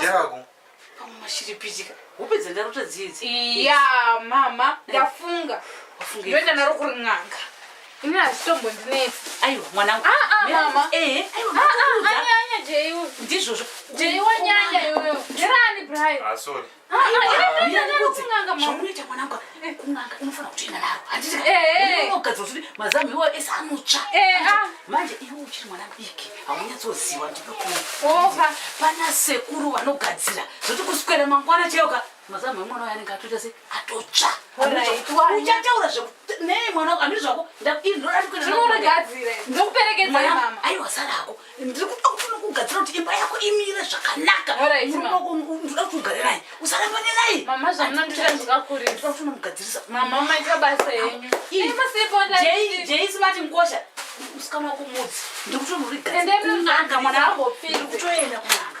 Jarago. Pamwe mashiripitika. Hope dzandarota dzidzi. Iya mama eh. ndafunga. Wafunga. Ndoenda naro kuri n'anga. Ini hazvitombo ndinetsi. Aiwa mwanangu. Ah ah mama. Eh. eh. Aiwa mama. Ah ah anyanya Jeyu. Ndizvozvo. Jeyu wanyanya iwewe. Gerani Brian. Ah sorry. zvamunoita mwanangu kun'anga inofana kutoenda naro handitikagadzira kuti mazamu iwayo ese anotsva manje iwe uchiri mwana mudiki haunyatsoziva ndinokuofa pana sekuru vanogadzira zvoti kuswera mangwana chayoka mazamu emwana wayo anenge atoita se atotsva uchataura nei mwana andiri zvako ndinoda kuenda naro aiwa sarako ndiri kuda kufuna kugadzira kuti imba yako imire zvakanaka ndinoda kuti ugare naye usaramba nenaye mama zvamunondita ndikakurisa ndinoda kufuna kugadzirisa mama maita basa yenyu jeisi mati ngosha musikana wako mudzi ndiri kutoenda kunanga mwana wako ndiri kutoenda kunanga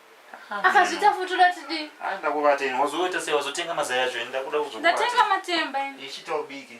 Akazvita futi uda tidii? Ah, ndakubata ini. Wazoita sei? Wazotenga mazai acho ini ndakuda kuzokubatsira. Ndatenga matemba ini. Ichita ubike.